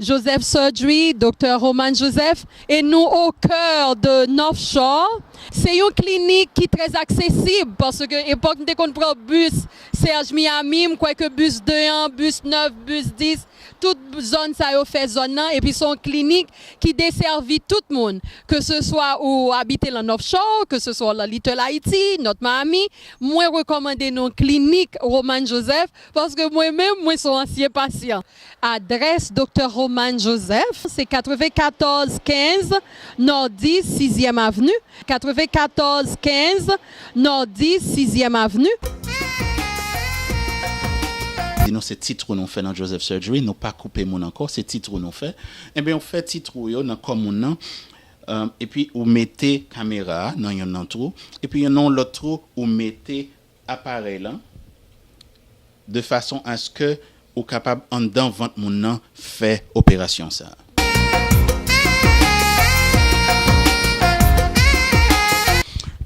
Joseph Surgery, Doktè Román Joseph, e nou au coeur de North Shore. Se yon klinik ki trè aksesib paske epòk m te konn pran bus Serge Miami, m kwè ke bus 2 an, bus 9, bus 10, tout zòn sa yo fè zòn nan epi se yon klinik ki desèvi tout moun ke se swa ou abite lan North Shore, ke se swa w lan Little Haiti, North Miami. Mwen rekòmande nou Klinik Romane Joseph paske mwen menm mwen son ansyen pasyan. Adrès Doktè Romane Joseph se 94 15 Nòdi Sizyèm Avni, 94 15 Nòdi Sizyèm Avni. Di nou se ti trou nou fè nan Joseph Surgery, nou pa koupe moun ankò, se ti trou nou fè. Enben ou fè ti trou yo nan kò moun nan, epi ou mete kamera a nan yon nan twou epi yon nan yon lòt twou ou mete aparèy lan de fason aske ou kapab anndan vant moun nan fè operasyon sa.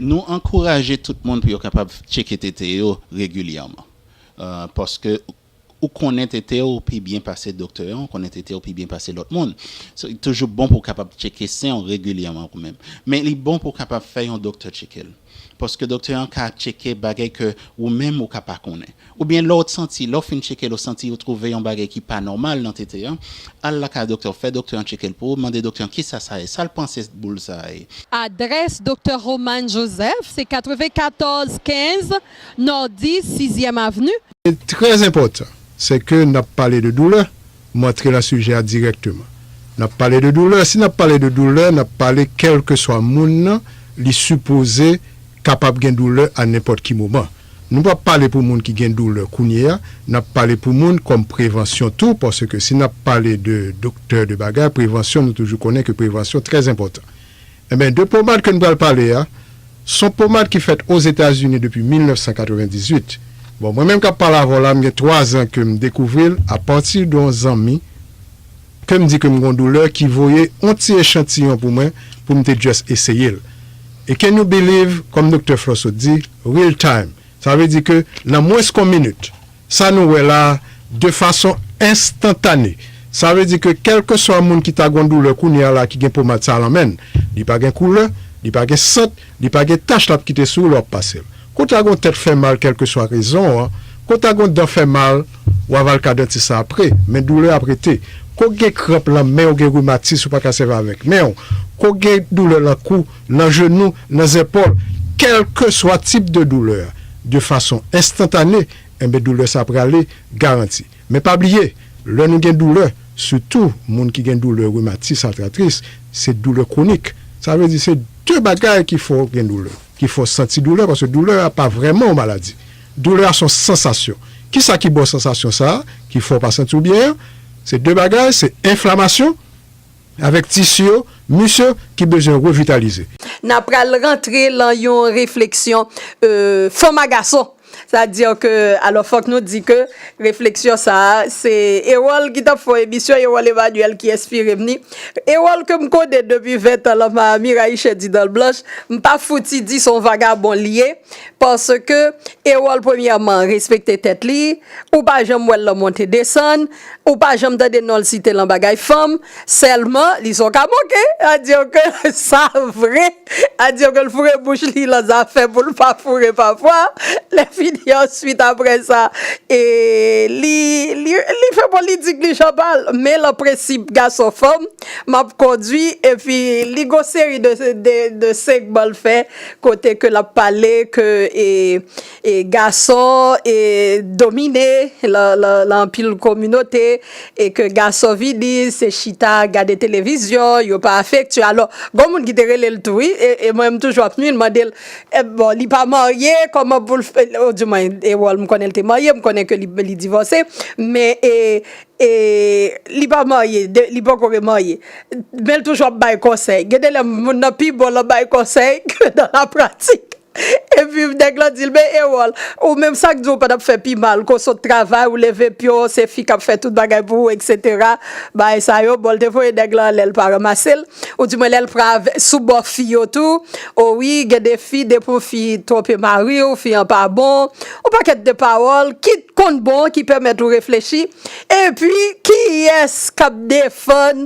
Nou ankouraje tout moun pou yo kapab tcheke tete yo regilyèman paske Ou konnen tete w pi byen pase doktè an, ou konnen tete w pi byen pase lòt moun. So, li toujou bon pou w kapab tcheke sen w regilyèman ou menm. Men li bon pou w kapab fè yon doktè tcheke l. Paske doktè an ka tcheke bagay ke ou menm ou ka pa konnen. Oubyen lè w t santi, lè w fin tcheke l ou santi ou twouve yon bagay ki pa nòmal nan tete an, al lakay doktè w, fè doktè an tcheke l pou ou, mande doktè an kisa sa ye, sa l panse boul sa a ye. Adrès Doktè Román Joseph se 94 15 Nordi, Sizyèm Avni. Se trè enpòtan, se ke n ap pale de doulè, m antre lan sijè a dirèkteman. N ap pale de doulè, si n ap pale de doulè, n ap pale kèlkeswa moun nan, li sipoze kapab gen doulè a nenpòt ki moman. Nou pa p pale pou moun ki gen doulè kounye a, n ap pale pou moun kòm prevansyon tou, paske si n ap pale de doktè, de bagay, prevansyon nou toujou konnen ke prevansyon trè enpòtan. Enben, de pomad ke n pral pale a, s on pomad ki fèt Ozetazini depi 1998. Bon, mwen menm k ap pale avè w la, m gen twazan ke m dekouvri l apati de yon zanmi ke m di ke m gen yon doulè ki voye yon ti echantiyon pou mwen pou m te just eseye l. E can you believe, kòm Doktè Flo sot di, real time. Sa vle di ke nan mwens ke yon minit, Sa nou wè la a, de fason enstantane, sa vle di ke kèlkeswa moun ki ta gon doulè kounye a la ki gen pomad sa a lan men l, li pa gen koulè, li pa gen sant, li pa gen tach l ap kite sou ou lè w ap pase l. Kou ta gon tèt fè mal kèlkeswa rezon an, kou ta gon dan fè mal, w a va l ka dantis la apre, men doulè ap rete. Kou gen kranp lan men w, gen rimatis ou pa ka sèvi avèk men w, kou gen doulè lan kou, nan jenou, nan zèpòl, kèlkeswa tip de doulè a, de fason enstantane, enben doulè sa prale garanti. Men pa bliye, lè nou gen doulè, sitou moun ki gen doulè rimatis, atratris, se doulè kwonik. Sa vle di se de bagay ki fè w gen doulè, ki fè w santi doulè, paske doulè a pa vrèman yon maladi. Doulè a se yon sansasyon. Kisa ki ba w sansasyon sa a, ki fè w pa santi w byen an? Se de bagay, se enflamasyon. Avèk tisi yo, mis yo ki bezwen revitalize. N ap pral rantre lan yon refleksyon fanm a gason. Sa di ke, alò fòk nou di ke refleksyon sa a se Erol ki t ap fè yon emisyon, Erol Emmanuel ki enspire m ni. Erol ke m konnen depi ventan lan Miami Rayichè di dan l blanch, m pa fouti di s on vagabon li ye. Paske Erol premyèman respekte tèt li, ou pa janm wè l lan monte desann. Ou pa janm tande nonl site lan bagay fanm selman li son kamoke a diw ke sa vre a diw ke l foure bouch li lan zafè poul pa foure pafwa lè fini answit aprè sa e li li fè politik li jan pal men lan prensip gason fanm map kondwi epi li gon seri de de segman l fè kote ke lap pale ke e. e gason e domine lan anpil kominote e ke gason vini se chita gade televizyon yo pa afektye alò gon moun ki te rele l tou wi e mwen m toujou ap hmi l mande l bon li pa marye kòman pou l fè o di mwen e wòl m konnen l te marye m konnen ke li divòse men e e li pa marye li poko remarye men l toujou ap bay konsèy gen de lè moun nan pi bon lan bay konsèy ke nan la pratik Epi nèg lan dil men Erol ou menm sak diw pa tap fè pi mal ke w sot travay ou leve pye w se fi kap fè tout bagay pou ou etc bagay sa yo bon l te voye nèg lan ale l pa ranmase l ou di mwen lèl pra sou bò fi yo tou o wi gen de fi depi yon fi twonpe mari w fi an pa bon yon pakèt de pawòl ki t konn bon ki pèmèt ou reflechi epi kiyès kap defann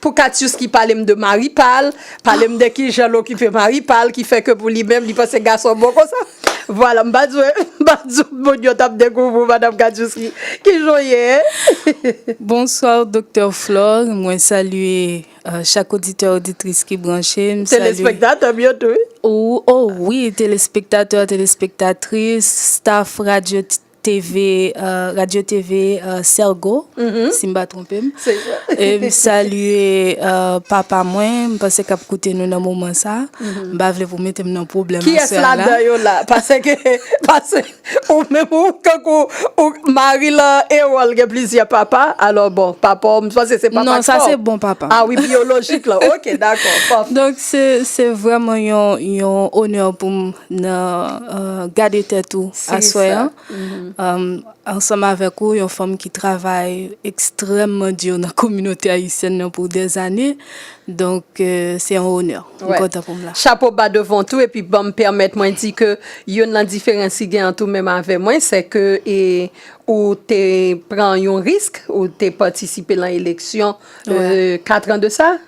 Pou Katiouski pale m de mari pa l, pale m de kijan l okipe mari pa l ki fè ke pou li menm li panse gason bon konsa. Vwala m pa di w m pa di w moun yo t ap dekouvri w madam Katiouski. Kijan w ye e? Bonsoir Doktè Flore, mwen salye chak oditè oditris ki branche, m salye. Telespektatè m yo tou wi. O wi telespektatè telespektatris, staff radyo TV radio TV sergo si m pa twonpe m e m salye papa mwen m panse kap koute nou nan moman sa m pa vle pou mete m nan pwoblèm a sè la. Kiyès ladan yo la paseke pase ou menm ou tankou ou mari lan Erol gen plizyè papa alò bon papa w m panse se papa k fè w. Non sa se bon papa m. A wi biyolojik lan ok dakò pafè. Donk se vrèman yon onè pou m. nan Gade Tèt ou aswè an ansanm avèk ou, yon fanm ki travay ekstrèmman di nan kominote ayisyèn nan pou dèzane. Donk, se yon onè. M kontan pou m la. Chapo ba devan tou epi ban m pèmèt mwen di ke youn nan diferans ki gen ant ou menm avè mwen se ke ou te pran yon risk, ou te patisipe nan eleksyon katran de sa.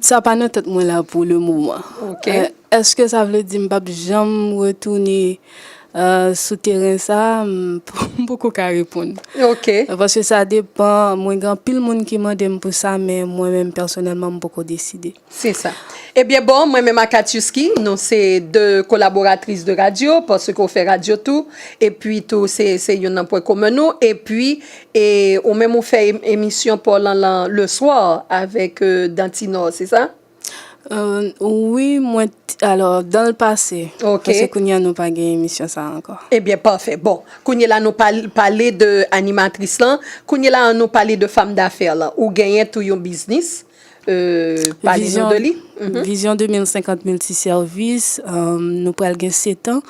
Sa pa nan tèt mwen la pou le moman. Ok. Eske sa vle di m pap janm retounen sou teren sa a? M poko ka reponn. Ok. Paske sa depan, mwen gen anpil moun ki mande m pou sa, men mwen menm pèsonèlman m poko deside. Se sa. Ebyen bon, mwen menm ak Atyousky, nou se 2 kolaboratris de radyo, paske ou fè radyo tou, epi tou se youn nan pwen komen nou, epi. E ou menm ou fè emisyon paw lan lan le soir avèk dantinò se sa? Wi mwen alò dan l pase paske kounya nou pa gen emisyon sa ankò. Ebyen pafè bon kounye la nou pale de animatris lan kounye la an nou pale de fam dafè lan ou genyen tou yon biznis. Vizyon 2050 Multiservis, nou pral gen 7 an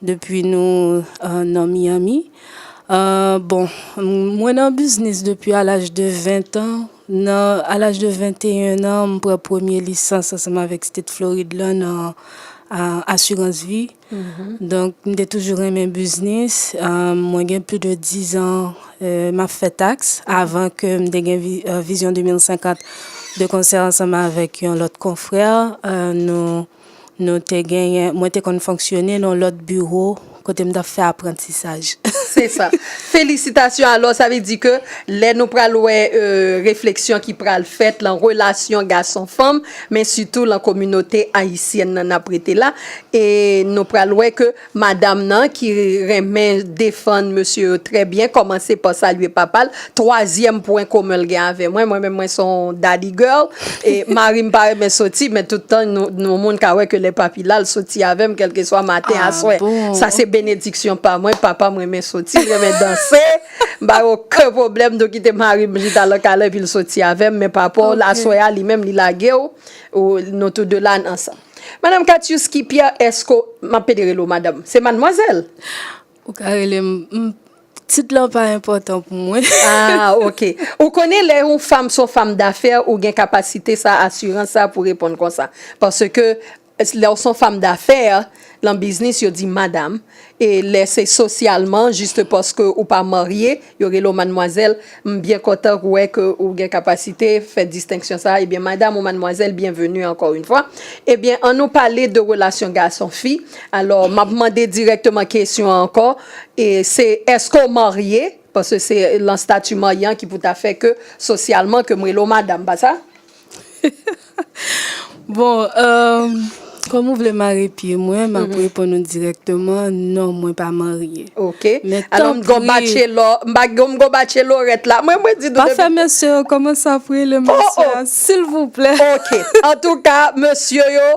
depi nou nan Miami. Bon, mwen nan biznis depi a laj de 20 an. A laj de 21 an, m pran premye lisans ansanm avèk State Floride la nan asirans vi. Donk, m te toujou renmen biznis. Mwen gen plis de dizan m ap fè taks avan ke m te gen Vizyon 2050. De konsè ansanm avèk yon lòt konfrè, nou te genyen, mwen te konn fonksyone nan yon lòt biwo kote m t ap fè aprantisaj. Se sa. Felisitasyon! Alò, sa vle di ke lè nou pral wè refleksyon ki pral fèt lan relasyon gason-fanm, men sitou lan kominote ayisyèn nan nap rete la e nou pral wè ke madam nan ki renmen defann mesye yo trè byen kòmanse pa salye papa l twazyèm pwen komen l gen avè mwen, mwen menm mwen son daddy girl e mari m pa renmen soti men tout tan yon moun ka wè ke lè papi la l soti avè m kèlkeswa maten aswè sa se benediksyon pa mwen papa m renmen soti l renmen danse. M pa gen oken pwoblèm de w kite mari m chita lan kay la epi l soti avè m men papaw l aswè a li menm li lage w nou tou de la n ansanm. Madam Katiuski Pierre eske w m ap ede rele w madam se madmwazèl? Ou ka rele m m tit lan pa enpòtan pou mwen. Ah ok. Ou konnen lè yon fanm se yon fanm dafè ou gen kapasite sa asirans sa pou reponn konsa paske Lè w s on fam dafè, lan biznis yo di madam, e lè se sosyalman, jist paske ou pa marye, yo rele w madmwazèl, m byen kontan wè ke ou gen kapasite fè distenksyon sa a, ebyen madam ou madmwazèl, byenveni ankò yn fwa. Ebyen an nou pale de relasyon gason fi, alò m ap mande dirèkteman kesyon an ankò, e se èske w marye, paske se lan stati marye an ki pou ta fè ke sosyalman ke m rele w madam, pa sa? Bon, kòm ou vle mare pye mwen, m ap reponn ou dirèkteman, non, mwen pa marye. Ok. Men tanpri. Alò m gon batchelò, m pa gon, m gon batchelorèt la. Mwen mwen di nou. Pa fè mesye yo kòmanse ap rele mesye a, silvouplè. Ok. Antouka, mesye yo,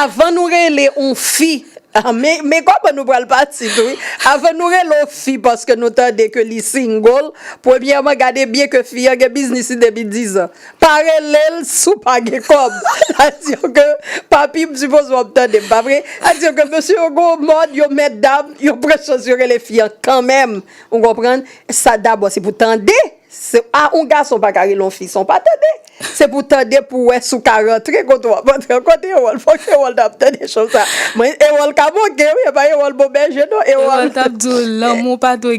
avan nou rele yon fi, men, men kòman nou pral pati tou wi. Avan nou rele yon fi paske nou tande ke li single, premyèman gade byen ke fi an gen biznis li depi dizan. Pa relel si w pa gen kob. Sa vle di ke papi m sipoze w ap tande m pa vre? Sa vle di ke mesye yo gen yon mòd yo mètdam yo pran chans yo rele fi an kanmenm ou konprann sa dabò se pou tande se a yon gason pa ka rele yon fi san w pa tande se pou tande pou w wè si w ka rantre kote w ap rantre an kote Erol fòk Erol ta ap tande cho sa mwen Erol ka manke wi e pa Erol bon bèje non Erol. Erol t ap di w lanmou pa dwe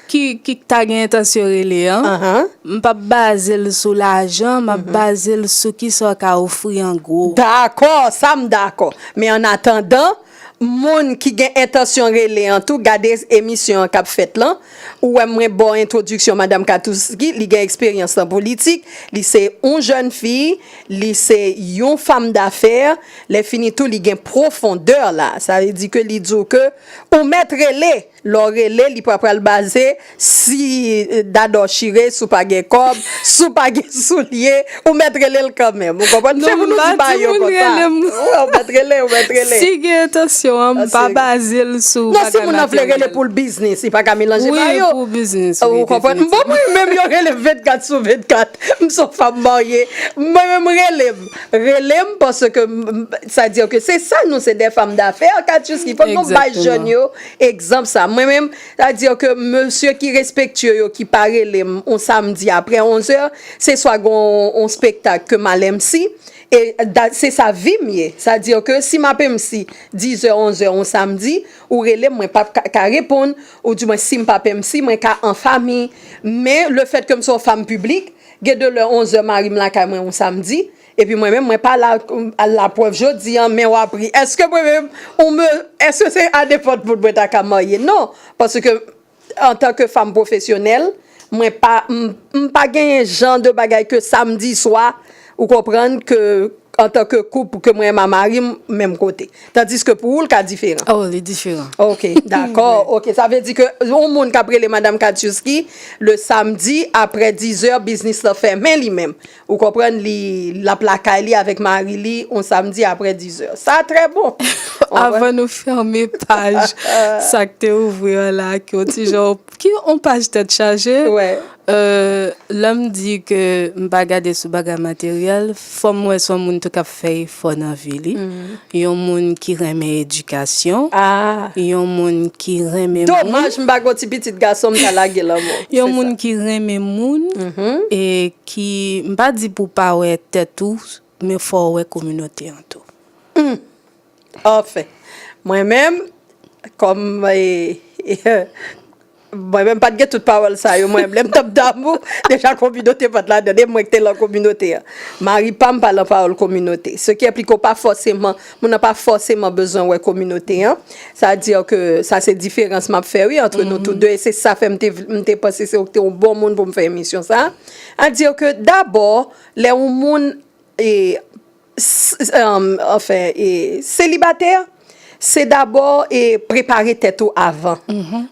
ki ki ta gen entansyon rele an, m pap baze l sou lajan, m ap baze l sou kisa w ka ofri an gwo. Dakò, sa m dakò. Men an atandan, moun ki gen entansyon rele an tou, gade emisyon an k ap fèt lan, ou wè mwen ba w entwodiksyon Madam Katouski, li gen eksperyans nan politik, li se yon jèn fi, li se yon fam dafè, lèfini tou li gen pwofondè la, sa vle di ke li di w ke ou mèt rele! Lè w rele li pa pral baze si Dadò chire, si w pa gen kòb, si w pa gen soulye, ou mèt rele l kanmenm. Ou konprann? Se pou nou di bagay yo konsa. Non, m pa di moun rele m. Ou mèt rele, ou mèt rele. Si gen entansyon an, m pa baze l sou bagay materyèl. Non, si moun nan vle rele pou l biznis, li pa ka melanje bagay yo. Wi, pou biznis, wi. Ou konprann? M bon mwen menm yo rele m 24 sou 24. M s on fanm marye. Mwen menm rele m. Rele m paske sa dire ke se sa nou se de fanm dafè, Katchouski. Fòk nou bay jèn yo. Egzanp sa mwen menm, sa vle di ke mesye ki respektye yo ki pa rele m on samdi aprè 11 zè, se swa gen on spektak ke m al MC, e se sa vi m ye. Sa vle di ke si m ap MC 10 zè, 11 zè on samdi, ou rele m, mwen pap ka reponn, ou di mwen si m pap MC, mwen ka an fami. Men, le fèt ke m se on fam piblik, gen de lè 11 zè mari m lakay mwen on samdi, Epi mwen menm mwen pa la al la prèv jodi an men wap ri eske mwen menm ou me eske se a nenpòt moun mwen ta ka marye non paske antanke fanm pwofesyonèl mwen pa m pa genyen jan de bagay ke samdi swa ou konprann ke antanke koup ke mwen ma mari m menm kote tandiske pou ou l ka diferan oh li diferan ok dakò ok sa vle di ke yon moun kap rele madam katiuski le samdi aprè dizè biznis lan fèmen li menm Ou konprann li lap lakay li avèk mari li on samdi aprè 10 heures. Sa trè bon. Avan nou fèmen paj sak te ouvri an la ki on ti jan ki on paj tèt chaje lèm di ke m pa gade sou bagay materyèl fòm wè son moun tou kap fè efò nan vi li yon moun ki renmen edikasyon yon moun ki renmen moun domaj m pa gon ti pitit gason m ta lage lanmò yon moun ki renmen moun e Ki, m pa di pou w pa wè tèt ou, men fò w wè kominote an tou. Hum! Anfen! Mwen menm, kòm e, e, mwen menm pa t gen tout pawòl sa yo, mwen menm lè m t ap damou, deja kominote pa t ladan l, e mwen k te lan kominote an. Mari pa m pa lan pawòl kominote. Sekyèpliko pa fòseman Moun nan pa fòseman bezwen wè kominote an. Sa di ke sa se diferans m ap fè wi antre nou tou de e se sa fè m te vle m te panse se ou ki te yon bon moun pou m fè emisyon sa a. A di ke dabò lè yon moun e anfen e selibatè se dabò e prepare tèt ou avan.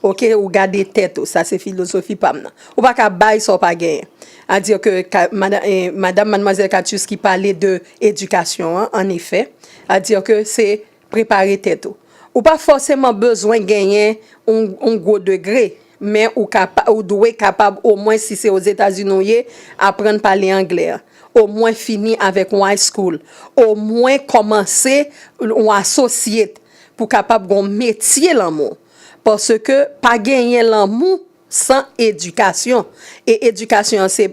Oke ou gade tèt ou sa se filozofi pa m nan. Ou pa ka bay sa ou pa genyen. A dire que Madame Mademoiselle Catius ki pale de éducation an, en effet, a dire que se prepare tèt ou. Ou pa fòseman bezwen genyen yon gwo degre, men ou dwe kapab o mwen si se Ozetazini ou ye, aprann pale anglè, o mwen fini avèk yon high school, o mwen kòmanse yon associate pou kapab gen yon metye lanmou. Paske pa genyen lanmou San edikasyon, e edikasyon an se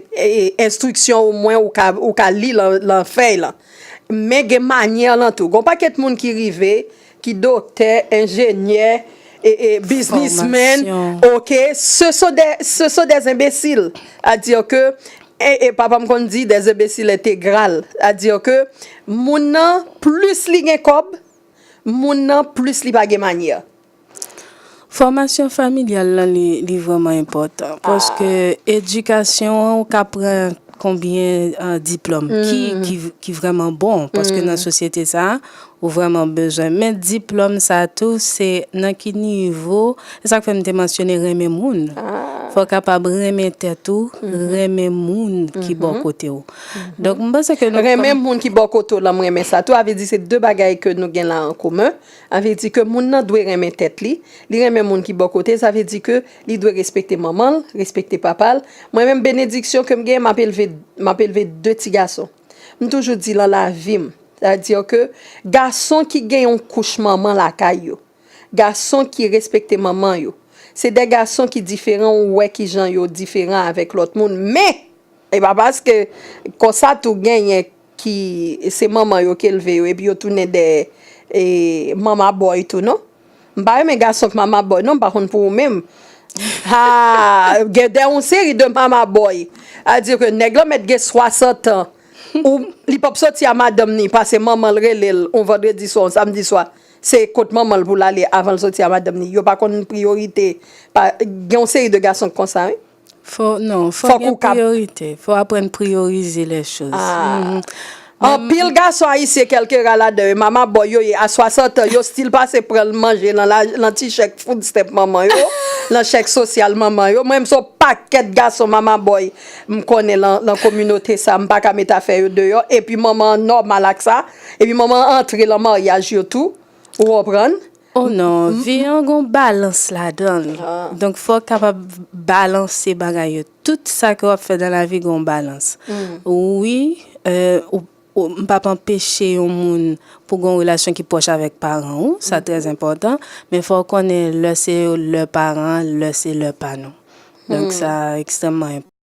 enstriksyon ou mwen ou ka li lan fèy lan. Men gen manyè lan tou. Gon pakèt moun ki rive, ki doktè, enjenyè, e biznismen, ok, se son dè zenbesil. A dire ke, e papa m konn di, dè zenbesil entegral. A dire ke, moun nan, plis li gen kòb, moun nan, plis li pa gen manyè. Fòmasyon familyal lan li vrèman enpòtan paske edikasyon an ou ka pran konbyen diplòm ki vrèman bon paske nan sosyete sa ou vrèman bezwen men diplòm sa tou se nan ki nivo se sa k fè m te mansyone renmen moun fò w kapab renmen tèt ou renmen moun ki bò kote w donk m panse ke renmen moun ki bò kote w lan m renmen sa tou avè di se de bagay ke nou gen la an komen. A vle di ke moun nan dwe renmen tèt li, li renmen moun ki bò kote l, sa vle di ke li dwe respekte manman l, respekte papa l. Mwen menm benediksyon ke m gen, m ap elve, m ap elve 2 ti gason. M toujou di lan lavi m, sa vle di ke gason ki gen yon kouch manman lakay yo, gason ki respekte manman yo, se 2 gason ki diferan ou wè kijan yo diferan avèk lòt moun men, e pa paske konsa tou genyen. ki se manman yo ki lve yo epi yo tounen dèyè e mama boy tou non m pa renmen gason k mama boy non m pa konn pou ou menm haa gen dè yon seri de mama boy a di ke nèg lan mèt gen 60 ans ou li pap soti a madanm ni pase manman l rele l yon vandredi swa yon samdi swa se kot manman l pou l ale avan l soti a madanm ni yo pa konn priyorite pa gen yon seri de gason k konsa wi. Non, fòk gen priyorite. Fò aprann priyorize lè choz. Anpil gason ayisyen kelke ra ladan yo mama boy yo ye a 60 an yo stil pase pran manje lan ti chèk food stamp manman yo, lan chèk sosyal manman yo. Mwen menm son pakèt gason mama boy m konnen lan kominote sa m paka met afè yo deyò epi manman an nòmal ak sa epi manman an antre lan maryaj yo tou ou konprann. Oh non, vi an gon balans ladan l. Donk fò w kapab balanse bagay yo. Tout sa ke w ap fè nan lavi gon balans. Wi, m pa p anpeche yon moun pou gon relasyon ki pwòch avèk paran ou, sa trè enpòtan, men fò w konnen lè se lè paran, lè se lè pa nou. Donk sa ekstrèmman enpòtan.